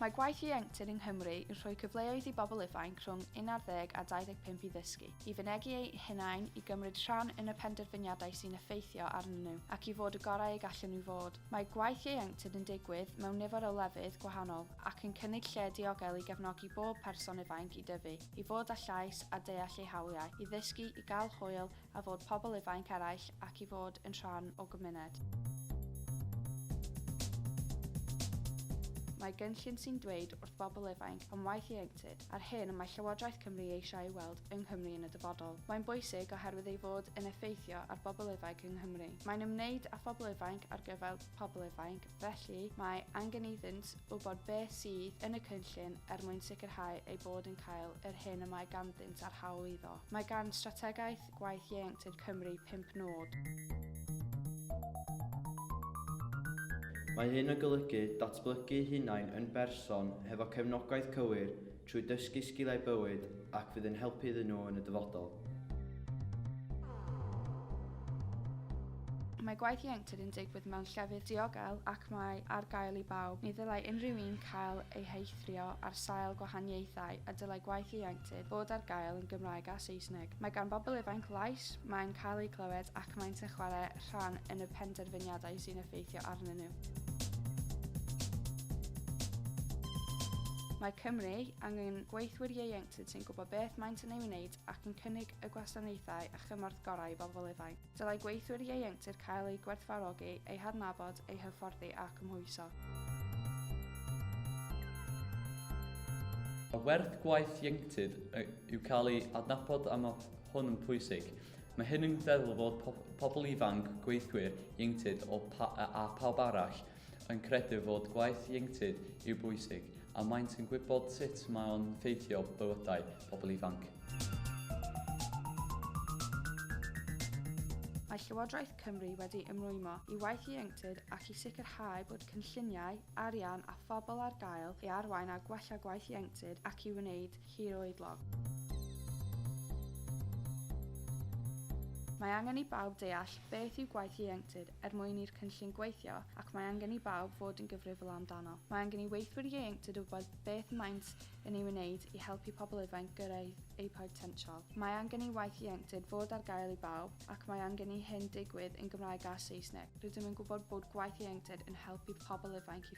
Mae gwaith ieuenctid yng Nghymru yn rhoi cyfleoedd i bobl ifainc rhwng 11 a 25 i ddysgu, i fynegi eu hunain, i gymryd rhan yn y penderfyniadau sy'n effeithio arnyn nhw, ac i fod y gorau y gallen nhw fod. Mae gwaith ieuenctid yn digwydd mewn nifer o lefydd gwahanol, ac yn cynnig lle diogel i gefnogi bob person ifainc i dyfu. i fod â llais a deall eu hawliau, i ddysgu, i gael hwyl, a fod pobl ifainc eraill ac i fod yn rhan o gymuned. Mae gynllun sy'n dweud wrth bobl ifainc am waith ieuenctid a'r hyn y mae Llywodraeth Cymru eisiau ei weld yng Nghymru yn y dyfodol. Mae'n bwysig oherwydd ei fod yn effeithio ar bobl ifainc yng Nghymru. Mae'n ymwneud â phobl ifainc ar gyfer pobl ifainc, Felly, mae angen iddynt wybod beth sydd yn y cynllun er mwyn sicrhau eu bod yn cael yr hyn y mae ganddynt a'r hawl iddo. Mae gan Strategaeth Gwaith Ieuenctid Cymru pump nod. Mae hyn yn golygu datblygu hunain yn berson hefo cefnogaeth cywir, trwy dysgu sgiliau bywyd ac fydd yn helpu iddyn nhw yn y dyfodol. Mae gwaith ieuenctid yn digwydd mewn llefydd diogel ac mae ar gael i bawb. Ni ddylai unrhyw un cael ei heithrio ar sail gwahaniaethau a dylai gwaith ieuenctid fod ar gael yn Gymraeg a Saesneg. Mae gan bobl ifainc lais, maen cael eu clywed ac maent yn chwarae rhan yn y penderfyniadau sy'n effeithio arnyn nhw. Mae Cymru angen gweithwyr ieuenctid sy'n gwybod beth maent yn ei wneud ac yn cynnig y gwasanaethau a chymorth gorau i bobl ifanc. Dylai gweithwyr ieuenctid cael eu gwerthfawrogi, eu hadnabod, eu hyfforddi a cymhwyso. Mae werth gwaith ieuenctid yw cael ei adnabod a mae hwn yn pwysig. Mae hyn yn feddwl fod po pobl ifanc, gweithwyr, ieuenctid o pa a pawb arall yn credu fod gwaith ieuenctid i'w bwysig a maent yn gwybod sut mae o'n ffeithio bywydau pobl ifanc. Mae Llywodraeth Cymru wedi ymrwymo i waith ieuenctid ac i sicrhau bod cynlluniau, arian a phobl ar gael i arwain a gwella gwaith ieuenctid ac i wneud hiroedlog. Mae angen i bawb deall beth yw gwaith ieuenctid er mwyn i'r cynllun gweithio ac mae angen i bawb fod yn gyfrifol amdano. Mae angen i weithwyr ieuenctid wybod beth maent yn ei wneud i helpu pobl ifainc gyrraedd eu potensial. Mae angen i waith ieuenctid fod ar gael i bawb ac mae angen i hyn digwydd yn Gymraeg a Saesneg. Rydym yn gwybod bod gwaith ieuenctid yn helpu pobl ifainc i